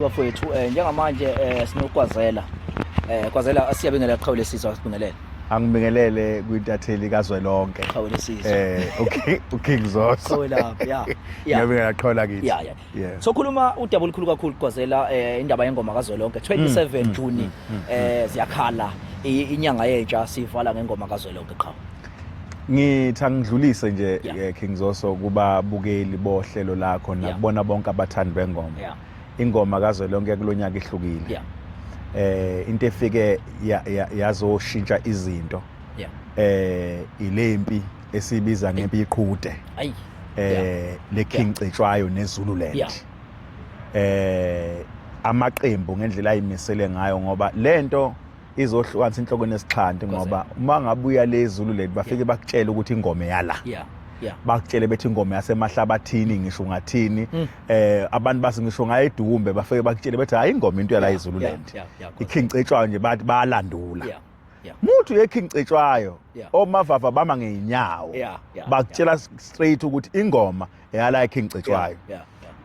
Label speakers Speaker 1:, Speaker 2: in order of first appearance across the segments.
Speaker 1: Bafowethu eh, njengamanje eh, sinokwazela eh, kwazela siyabingelela qhawe lesizwe sibingelele angibingelele
Speaker 2: kwintatheli kazwelonke qhawe lesizwe
Speaker 1: eh okay uking
Speaker 2: zoso qhawe lapha ya
Speaker 1: ngiyabingelela qhawe
Speaker 2: lakithi ya ya so khuluma
Speaker 1: udaba olukhulu kakhulu kwazela eh, indaba yengoma kazwelonke 27 mm, June mm, mm, eh ziyakhala inyanga yentsha sivala ngengoma kazwelonke qhawe ngithi
Speaker 2: angidlulise nje yeah. Eh, King Zoso kuba bukeli bohlelo lakho nakubona yeah. bonke abathandi bengoma yeah. ingoma kazwelonke kulo nyaka ihlukile yeah. eh into efike yazoshintsha ya, ya izinto yeah. eh ilempi esibiza ngempi iqhude ayi eh yeah. le King yeah. Cetshwayo neZululand yeah. eh amaqembu ngendlela ayimisele ngayo ngoba lento izohlukanisa inhloko nesixhanti ngoba uma ngabuya le Zulu leli bafike bakutshela ukuthi ingoma yala yeah yeah bakutshele bethi ingoma yasemahlabathini ngisho ngathini hmm. eh abantu base ngisho ngayedumbe bafike bakutshele bethi hayi ingoma into yala izulu lento ikhincetshwa nje bathi bayalandula yeah muthi uyekhingcetshwayo omavava bama ngeenyawo bakutshela straight ukuthi ingoma eyala ekhingcetshwayo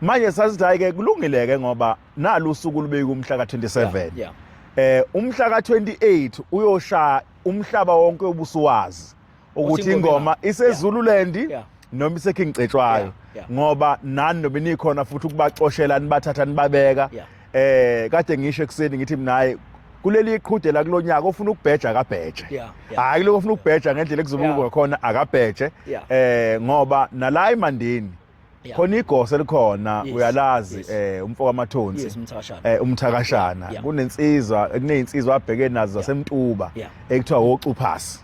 Speaker 2: manje sasithi hayi ke kulungile ke ngoba nalu usuku lubeyika umhla ka-27 yeah, yeah. um umhla ka-28 uyoshaya umhlaba wonke ubusuwazi ukuthi ingoma isezululand yeah. yeah. noma iseking cetshwayo yeah, yeah. ngoba nani noma nikhona futhi ukubaxoshela nibathatha nibabeka yeah. eh kade ngisho ekuseni ngithi minaye kuleli iqhudela kulonyaka ofuna ukubheja akabheje hayi lokho ofuna ukubheja ngendlela ekuzobuka khona akabheje eh ngoba nala imandini Yeah. khona igosa elikhona Yes, uyalazi yes. eh umfo kamathonsi Yes, umthakashana. eh umthakashana Yeah, yeah. kunensizwa kunezinsizwa abheke nazo zasemtuba Yeah. ekuthiwa wocuphasi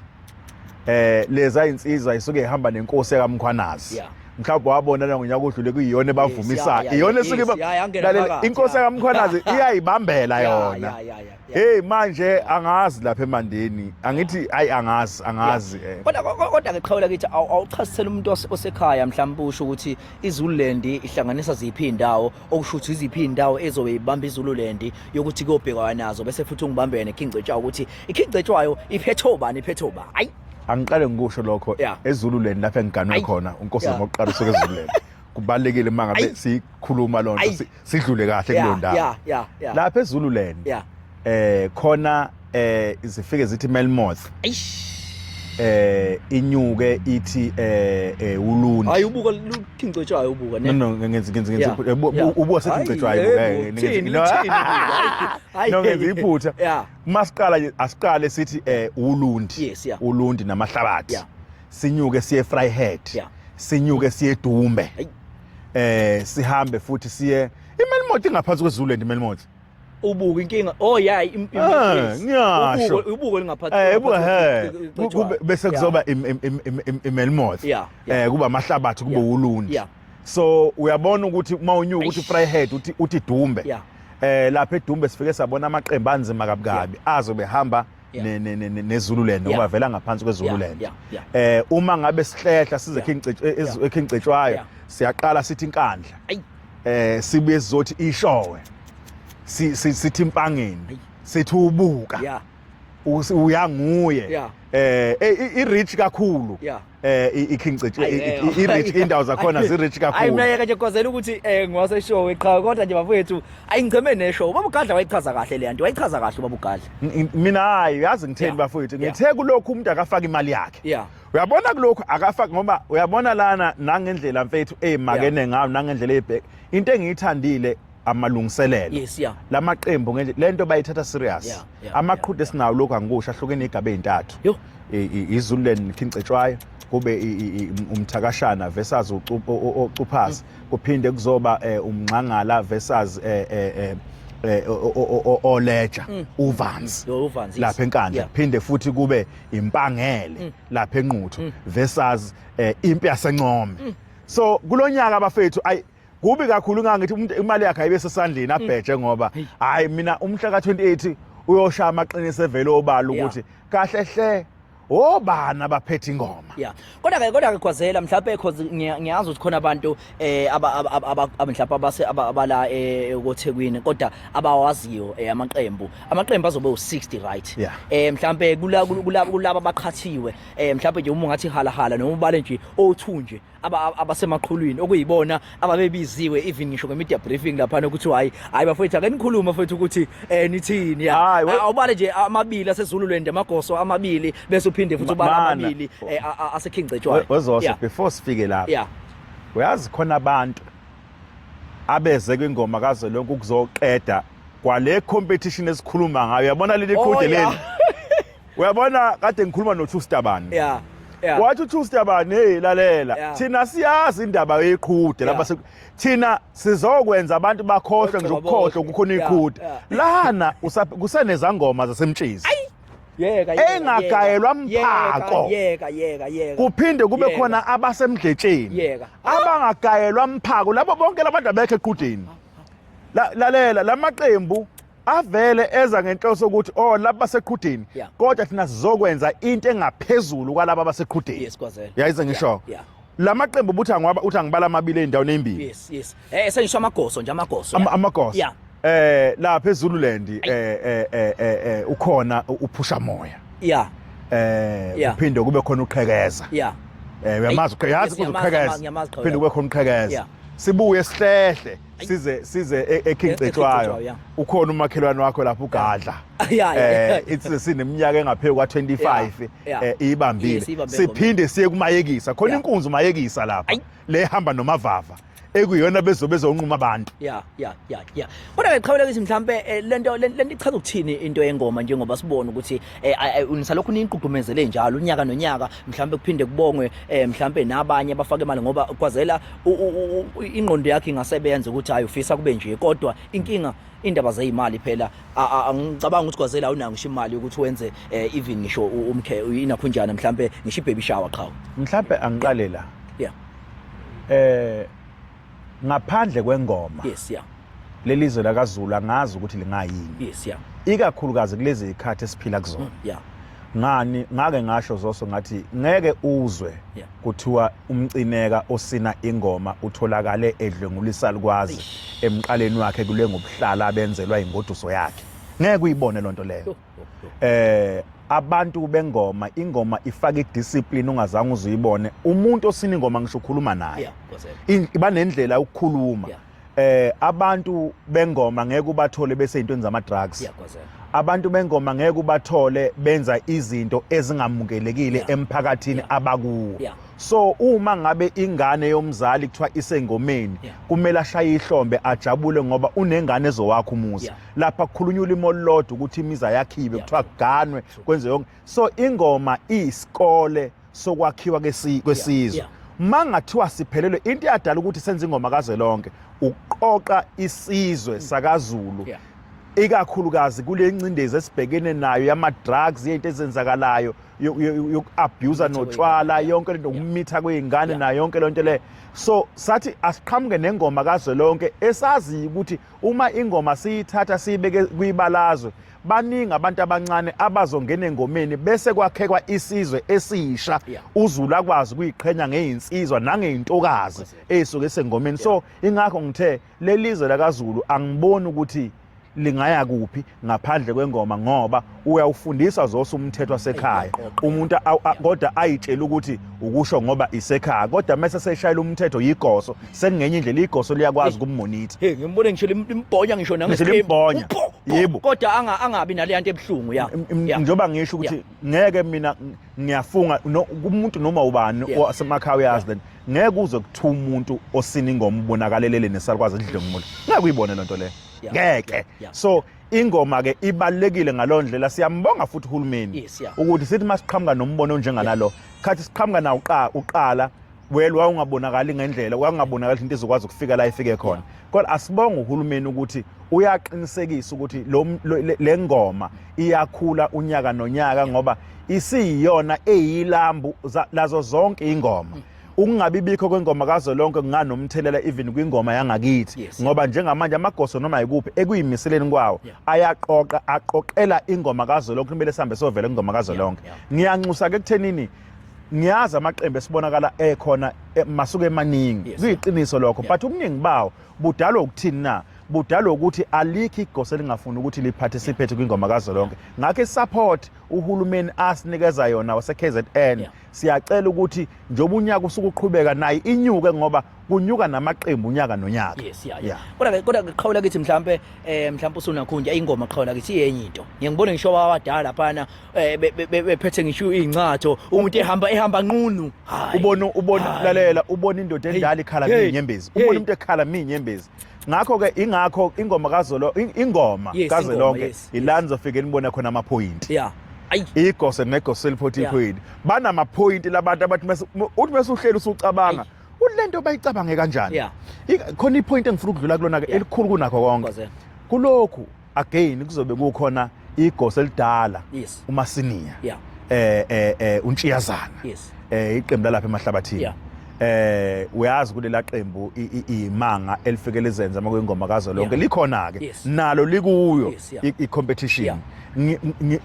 Speaker 2: eh leza insizwa isuke ihamba nenkosi yakamkhwanazi Yeah. mhlawumbe wabona na ngonyaka odlule kuyiyona ebavumisayo yeah, yeah, iyona yes, esuke iba- yeah, yangena lalela, phakathi, inkosi yeah. yakamkhwanazi iyayibambela Yeah, yona yeah, yeah, yeah. Hey manje angazi lapha emandeni angithi ayi angazi angazi eh. kodwa kodwa ke
Speaker 1: qhawula kithi awuchasisela umuntu osekhaya mhlawumbe usho ukuthi iZululand ihlanganisa ziphi indawo okusho ukuthi iziphi indawo ezobe ibamba iZululand yokuthi kuyobhekwa nazo bese futhi ungibambene khingcetshwa ukuthi ikhingcetshwayo iphetho bani iphetho ba ayi angiqale ngikusho
Speaker 2: lokho eZululand lapha engiganwe khona uNkosi ngokuqala usuke eZululand kubalekile mangabe sikhuluma lonto sidlule kahle kulo ndawo yeah yeah yeah lapha eZululand yeah eh khona eh izifike zithi Melmoth eh inyuke ithi eh, eh ulundi hayi ubuka
Speaker 1: luthincetshwayo ubuka ne no no ngenzi ngenzi ngenzi
Speaker 2: ubuka sethincetshwayo ubuka eh, ngithini hayi no ngenzi iphutha masiqala asiqale sithi eh ulundi ulundi namahlabathi sinyuke siye Vryheid sinyuke siye Dumbe eh sihambe futhi siye imelimothi ingaphansi kweZululand imelimothi ubuka inkinga
Speaker 1: oh yeah ah, ngiyasho
Speaker 2: ubuko lingaphathi eh ubuka
Speaker 1: he kube bese kuzoba
Speaker 2: imelimoth eh kuba amahlabathi kube ulunje so uyabona ukuthi uma unyuka uthi fry head uthi uthi dumbe eh lapha edumbe sifike sabona amaqembu anzima kabukabi azobe hamba ne, ne, ne, nezululand ngoba vela ngaphansi kwezululand eh uma ngabe sihlehla size ekhingcetshwayo siyaqala sithi inkandla eh sibuye sizothi ishowe sithi impangeni sithi ubuka uyanguye eh i rich kakhulu eh i-King City Ayi, eh, i- i- i-rich indawo zakhona zi-rich ayi kakhulu mina yeke nje kwazela ukuthi
Speaker 1: um ngiwase show qha kodwa nje bafowethu ayi ngicheme neshow ubaba ugadla wayichaza kahle le nto wayichaza kahle ubaba ugadla N- mina hayi
Speaker 2: uyazi ngitheni Yeah. bafowethu Yeah. ngithe kulokhu umuntu akafaka imali yakhe Yeah. uyabona kulokhu akafaki ngoba uyabona lana nangendlela mfethu eyimakene ngayo nangendlela eyibheke into engiyithandile amalungiselelo yes, yeah. lamaqembu ngenje lento bayithatha serious yeah, yeah, amaqhude yeah, sinawo lokho angikusho ahlukene igaba ezintathu izululand khincetshwayo kube umthakashana versus ucuphazi mm. kuphinde kuzoba eh, umngxangala versus eh, eh, Eh, oleja mm. uvanzi lapha enkandla phinde futhi kube impangele mm. lapha enquthu mm. versus eh, impi yasencome so kulonyaka abafethu ay kubi kakhulu ngangithi umuntu imali yakhe ayibe sesandleni abheje ngoba hayi mina umhla ka28 uyoshaya amaqiniso evele obala ukuthi kahle hle obani abaphethe ingoma yeah kodwa ke kodwa ke
Speaker 1: khwazela mhlawumbe cause ngiyazi ukuthi khona abantu eh mhlawumbe abase abala eh, koThekwini kodwa abawaziyo eh, amaqembu amaqembu azobe u60 right eh mhlawumbe kulaba abaqhathiwe eh mhlawumbe nje uma ungathi hala hala noma ubale nje o2 nje abasemaqhulwini okuyibona ababebiziwe even ngisho nge-media briefing laphana ukuthi hayi hayi bafowethu ake nikhulume bafowethu ukuthi um nithini awubale nje amabili asezululand amagoso amabili bese uphinde futhi ubala amabili eh, asekhingcetshwayo wezosho before
Speaker 2: sifike lapha uyazi khona abantu abeze kwingoma kaze lonke ukuzoqeda kwale competition esikhuluma ngayo yabona leli qhude oh, leli uyabona kade ngikhuluma noTrue Stabane yeah yeah wathi uTrue Stabane hey lalela yeah. thina siyazi indaba yeqhude yeah. lapha thina sizokwenza abantu bakhohlwe nje ukukhohlwa kukhona iqhude yeah. yeah. lana kusenezangoma zasemtshezi yeka yeka engagayelwa mphako yeka yeka yeka kuphinde kube khona abasemdletsheni yeka abangagayelwa mphako labo bonke labantu abekho eqhudeni lalela lamaqembu avele eza ngenhloso ukuthi oh laba baseqhudeni yeah. kodwa thina sizokwenza into engaphezulu kwalaba baseqhudeni yes kwazela yayize ngisho yeah, yeah. lamaqembu buthi angiwaba uthi angibala amabili endaweni ezimbili yes yes eh esengisho
Speaker 1: amagoso nje amagoso Am, amagoso yeah
Speaker 2: eh la phezulu lendi eh eh, eh eh eh ukhona uphusha moya yeah eh uphinde kube khona uqhekeza yeah eh uyamazi uqhekeza uqhekeza uphinde kube khona uqhekeza sibuye sihlehle size size e- eKing Cetshwayo ukhona umakhelwane wakho lapho ugadla eh ithi sineminyaka engaphezulu kwa 25 eh ibambile siphinde siye kumayekisa khona inkunzi umayekisa lapha le hamba nomavava ekuyona bezobe zonquma abantu ya ya ya ya
Speaker 1: kodwa ngiqhawula ukuthi mhlambe eh, lento lento ichaza ukuthini into yengoma njengoba sibona ukuthi eh, eh, unisalokhu niyigqugqumezele njalo unyaka nonyaka mhlambe kuphinde kubongwe mhlambe nabanye abafake imali ngoba kwazela ingqondo yakhe ingasebenza ukuthi hayi ufisa kube nje kodwa inkinga indaba zeyimali phela angicabanga ukuthi kwazela awunayo ngisho imali ukuthi wenze eh, even ngisho umkhe inakhunjana mhlambe ngisho ibaby shower qhawe mhlambe angiqale
Speaker 2: la yeah eh ngaphandle kwengoma yes yeah lelizwe lakaZulu angazi ukuthi lingayini yes yeah ikakhulukazi kulezi zikhathi esiphila kuzona mm, yeah ngani ngake ngasho zoso ngathi ngeke uzwe yeah. kuthiwa umcineka osina ingoma utholakale edlwengulisa likwazi emqaleni wakhe kule ngobuhlala abenzelwa ingoduso yakhe ngeke uyibone lonto leyo eh abantu bengoma ingoma ifaka idiscipline ungazange uzuyibone umuntu osina ingoma ngisho ukhuluma naye yeah, iba nendlela ukukhuluma yeah. eh abantu bengoma ngeke ubathole bese into enza ama drugs abantu bengoma ngeke ubathole benza izinto ezingamukelekile emphakathini abakuwo so uma ngabe ingane yomzali kuthiwa isengomeni kumele ashaye ihlombe ajabule ngoba unengane ezowakha umuzi lapha kukhulunywa ulimo olulodwa ukuthi imizi ayakhiwe kuthiwa kuganwe kwenze yonke so ingoma iyisikole sokwakhiwa kwesizwe yeah, yeah. mangathiwa siphelelwe into eyadala ukuthi senze ingoma kazwelonke ukuqoqa isizwe mm. sakaZulu yeah. ikakhulukazi kule ncindezi esibhekene nayo yama-drugs yento ezenzakalayo yoku-abusa notshwala yonke lento ukumitha kwey'ngane nayo yonke loo nto leyo so sathi asiqhamuke nengoma kazwelonke esaziyo ukuthi uma ingoma siyithatha siyibeke kwibalazwe baningi abantu abancane abazongena engomeni bese kwakhekwa isizwe esisha uZulu akwazi ukuyiqhenya ngeinsizwa nangeintokazi ezisuke sengomeni so ingakho ngithe lelizwe lakaZulu angiboni ukuthi lingaya kuphi ngaphandle kwengoma ngoba uyawufundisa zose umthetho wasekhaya umuntu kodwa ayitshela ukuthi ukusho ngoba isekhaya kodwa mase seshayela umthetho yigoso sengenye indlela igoso liyakwazi ukummonitha hey ngimbone ngisho
Speaker 1: limbhonya ngisho nangesimbonya
Speaker 2: yebo kodwa anga angabi
Speaker 1: naleya nto ebuhlungu ya njoba ngisho
Speaker 2: ukuthi ngeke mina ngiyafunga kumuntu noma ubani osemakhaya uyazi then ngeke uze kuthiwa umuntu osina ingoma ubonakalelele nesalukwazi edle umuntu ngeke uyibone lento le ngeke so ingoma ke ibalekile ngalondlela siyambonga futhi uhulumeni ukuthi sithi masiqhamuka nombono onjenganalo khathi siqhamuka na uqala well wawungabonakali ngendlela wawungabonakali into izokwazi ukufika la ifike khona kodwa asibonga uhulumeni ukuthi uyaqinisekisa ukuthi le ngoma iyakhula unyaka nonyaka ngoba isiyiyona eyilambu lazo zonke ingoma mm. ukungabibikho kwengoma kazolonke kunganomthelela even kwingoma yangakithi yes. ngoba njengamanje amagoso noma yikuphi ekuyimiseleni kwawo yeah. ayaqoqa aqoqela ingoma kazolonke kumele sihambe sovela ingoma kazolonke yeah. yeah. ngiyanxusa ke kuthenini ngiyazi amaqembu esibonakala ekhona eh, masuke emaningi yes, kuyiqiniso lokho yeah. but ubuningi bawo budalwa ukuthini na budalwa ukuthi alikho igosa elingafuni ukuthi liparticipate kwingoma kazolonke ngakho isupport uhulumeni asinikeza yona wase-KZN yeah. siyacela ukuthi njengoba unyaka usuke uqhubeka naye inyuke ngoba kunyuka namaqembu unyaka nonyaka yes yeah, yeah. kodwa kodwa
Speaker 1: qhawula kithi mhlambe eh mhlambe usunakhunja ingoma qhawula kithi yenye into ngiyangibona ngisho abadala phana eh, bephethe ngisho incatho umuntu ehamba ehamba nqunu ubona ubona
Speaker 2: lalela ubona indoda endala ikhala minyembezi ubona umuntu ekhala minyembezi ngakho ke ingakho ingoma kazolo ingoma kazolonke ilanzo fike nibona khona ama point yeah igose negose eliphothi iphini banamaphoyinti labantu abathi uthi bese uhleli usucabanga kulento bayicabange kanjani yeah. khona ipoint engifuna ukudlula kulona ke yeah. elikhulu kunakho konke kulokhu again kuzobe kukhona igosi elidala yes. umasiniya yeah. eh eh, eh untshiyazana yes. eh iqembu lalapha emahlabathini yeah. eh uyazi kulela qembu imanga elifike lizenza uma kuyingoma kazo lonke likhona ke nalo likuyo i competition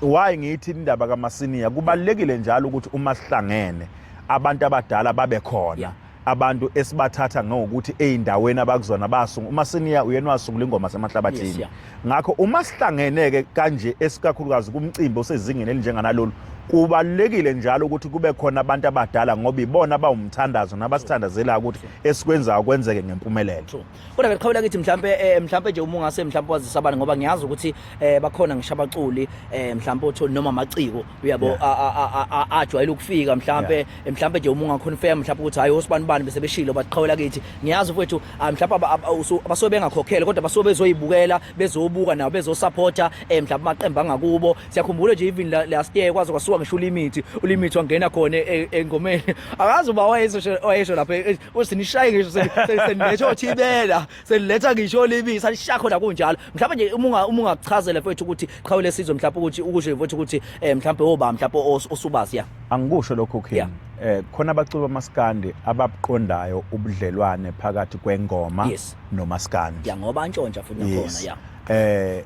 Speaker 2: why ngithi indaba kamasiniya kubalekile njalo ukuthi uma sihlangene yeah. abantu abadala babe khona yeah. abantu esibathatha ngokuthi ezindaweni abakuzona basungu uma siniya uyena wasungula ingoma semahlabathini yes, yeah. ngakho uma sihlangeneke kanje esikakhulukazi kumcimbi osezingeni elinjenganalolu kubalulekile njalo ukuthi kube khona abantu abadala ngoba ibona bawumthandazo nabasithandazela ukuthi esikwenzayo kwenzeke ngempumelelo kodwa ke qhawula kithi
Speaker 1: mhlambe eh, mhlambe nje uma ungase mhlambe wazisa abantu ngoba ngiyazi ukuthi eh, bakhona ngisho abaculi eh, mhlambe uthi noma amaciko uyabo Yeah. a- a- a- a- a- ajwayele ukufika mhlambe eh, mhlambe nje uma ungaconfirm mhlambe ukuthi hayi osibani bani bese beshilo baqhawula kithi ngiyazi mfowethu ah, mhlambe aba- aba- usu- basuke bengakhokhele kodwa basuke bezoyibukela bezobuka nabo bezosupporta eh, mhlambe amaqembu angakubo siyakhumbula nje even last year kwaze kwasuka ngisho ulimit ulimit wangena khona e, engomeni akazi uba wayesho wayesho lapha e, e, usinishaye ngisho seniletha othibela seniletha ngisho ulimit salisha khona kunjalo mhlawumbe nje uma uma ungakuchazela mfethu ukuthi qhawe lesizwe mhlawumbe ukuthi ukusho mfethu ukuthi mhlawumbe oba mhlawumbe osubazi ya angikusho lokho
Speaker 2: king eh khona abaculi bamaskandi ababuqondayo ubudlelwane phakathi kwengoma yes. nomaskandi ya ngoba antshontsha
Speaker 1: futhi nakhona ya eh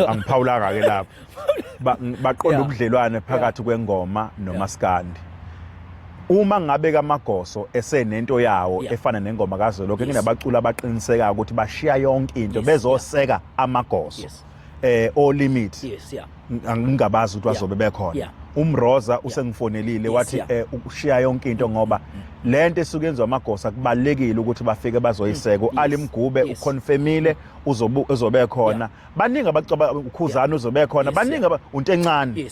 Speaker 2: angiphawulanga ke lapho baqonda ubudlelwane phakathi kwengoma nomaskandi uma ngabe kamagoso esenento yawo efana nengoma kazolokho kunabaculi abaqinisekayo ukuthi bashiya yonke into bezoseka amagoso eh o limit ngingabazi ukuthi bazobe bekhona umroza usengifonelile wathi eh, ukushiya yonke into ngoba lento esuke yenziwa amagosa kubalekile ukuthi bafike bazoyiseka mm. alimgube uconfirmile uzobu uzobe khona baningi abacaba ukhuzana uzobe khona baningi unto encane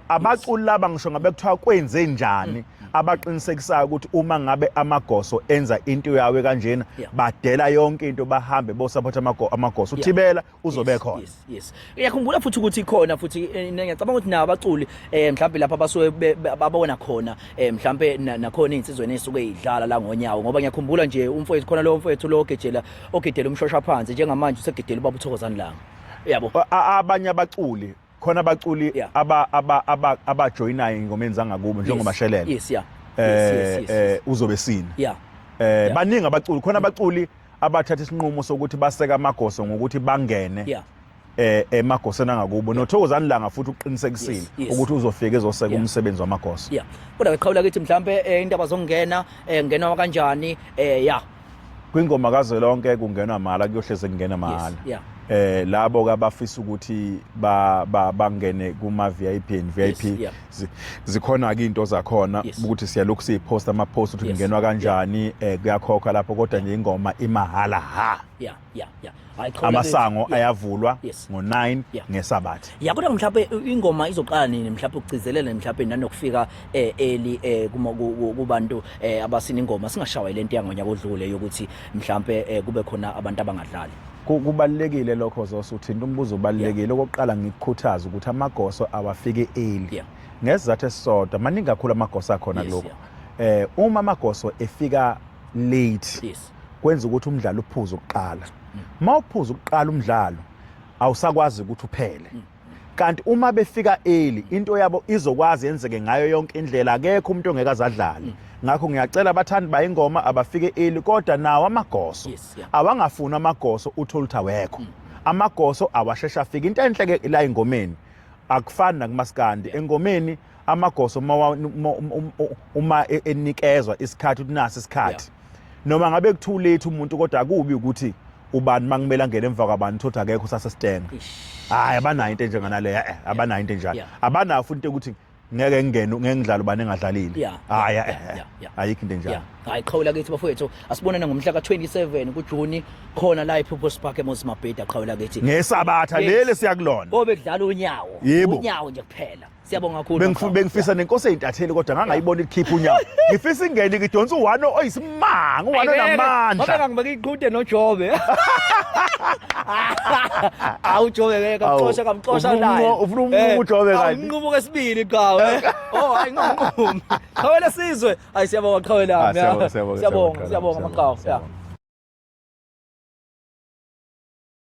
Speaker 2: abaculi laba ngisho ngabe kuthiwa kwenze njani mm, mm, mm. abaqinisekisayo ukuthi uma ngabe amagoso enza into yawo kanjena badela yonke into bahambe bo support amagoso uthibela uzobe khona yes uyakhumbula futhi
Speaker 1: ukuthi khona futhi eh, ngiyacabanga ukuthi nawo abaculi eh mhlawumbe lapha basuke babona khona eh mhlawumbe nakhona insizweni esuke idlala la ngonyawo ngoba ngiyakhumbula nje umfowethu khona lo mfowethu lo ogejela ogedela umshosha phansi njengamanje usegedela ubaba uthokozani langa yabo abanye
Speaker 2: abaculi khona abaculi aba aba aba abajoyinayo ingomeni zangakubo njengoba shelele yes yeah eh, eh uzobe sini yeah eh baningi abaculi khona abaculi abathatha isinqumo sokuthi baseka amagoso ngokuthi bangene yeah. eh emagoseni angakubo nothokozani langa futhi uqinisekisile yes, yes. ukuthi uzofika ezoseka yeah. umsebenzi wamagoso yeah kodwa ngiqhawula ukuthi
Speaker 1: mhlambe eh, indaba zokungena eh, ngenwa kanjani eh yeah
Speaker 2: kwingoma kazwelonke kungenwa mahala kuyohleze kungena mahala yes, yeah eh labo kabafisa ukuthi ba bangene kuma VIP and VIP yes, yeah. zikhona-ke iy'nto zakhona ukuthi siyalokhu siyiphosta ama-post ukuthi kungenwa kanjani um eh, kuyakhokha lapho kodwa nje ingoma imahhala ha amasango ayavulwa ngo-9 ngesabatha ya kodwa mhlawumbe
Speaker 1: ingoma izoqala nini mhlawumbe ukugcizelele mhlawumbe nanokufika eh, eli eh, kubantu abasina ingoma singashawayile nto yangonyaka odlule yokuthi mhlawumbe kube khona abantu abangadlali Kubalulekile
Speaker 2: lokho Zoso uthinta umbuzo ubalulekile okokuqala ngikukhuthaza ukuthi amagoso awafike early ngesizathu esisodwa maningi kakhulu amagoso akhona kuloko eh uma amagoso efika late kwenza ukuthi umdlalo uphuze ukuqala mm. uma uphuza ukuqala umdlalo awusakwazi ukuthi uphele mm. kanti uma befika early into yabo izokwazi yenzeke ngayo yonke indlela akekho umuntu ongeke azadlale ngakho ngiyacela abathandi bayingoma abafike early kodwa nawo amagoso Yes, yeah. awangafuni amagoso uthole ukuthi awekho amagoso awashesha afika into enhle ke la engomeni akufani nakumaskandi engomeni amagoso uma wa- uma- uma- uma e- enikezwa isikhathi ukuthi nasi isikhathi noma ngabe kuthiwa ulethe umuntu kodwa akubi ukuthi ubani makumele angene emva kwabani thothi akekho sasesitenga hayi abanayo into enjenganaleyo eh, eh abanayo into enjalo abanayo futhi ukuthi ngeke ngingene ngeke ngidlale ubani engadlalile hayi eh, eh, ayikho into enjalo hayi qhawula kithi bafowethu
Speaker 1: asibonane ngomhla ka27 kuJuni khona la ePurpose Park eMozambique qhawula kithi ngesabatha leli
Speaker 2: siyakulona obekudlala unyawo
Speaker 1: unyawo nje kuphela Siyabonga kakhulu. Bengifu- Mkhulu. bengifisa nenkosi eyintatheli
Speaker 2: kodwa ngangayibona ikhipha unyawo ngifisa ingene ngidonsa uwano oyisimanga uwano Ayibeke, namandla Ngoba ngangibeka iqhude
Speaker 1: noJobe. Awu Jobe ke kamxosha Awu, kamxosha ufuna naye. umnqo- ufuna umnqumo Eh, uJobe awu,
Speaker 2: kanti. Umnqumo kesibili
Speaker 1: qawe. Oh hayi nginqumi. Qhawela sizwe. Hayi siyabonga qhawe Ah, lami. siyabonga, siyabonga, Siyabonga siyabonga, siyabonga maqhawe. siyabonga.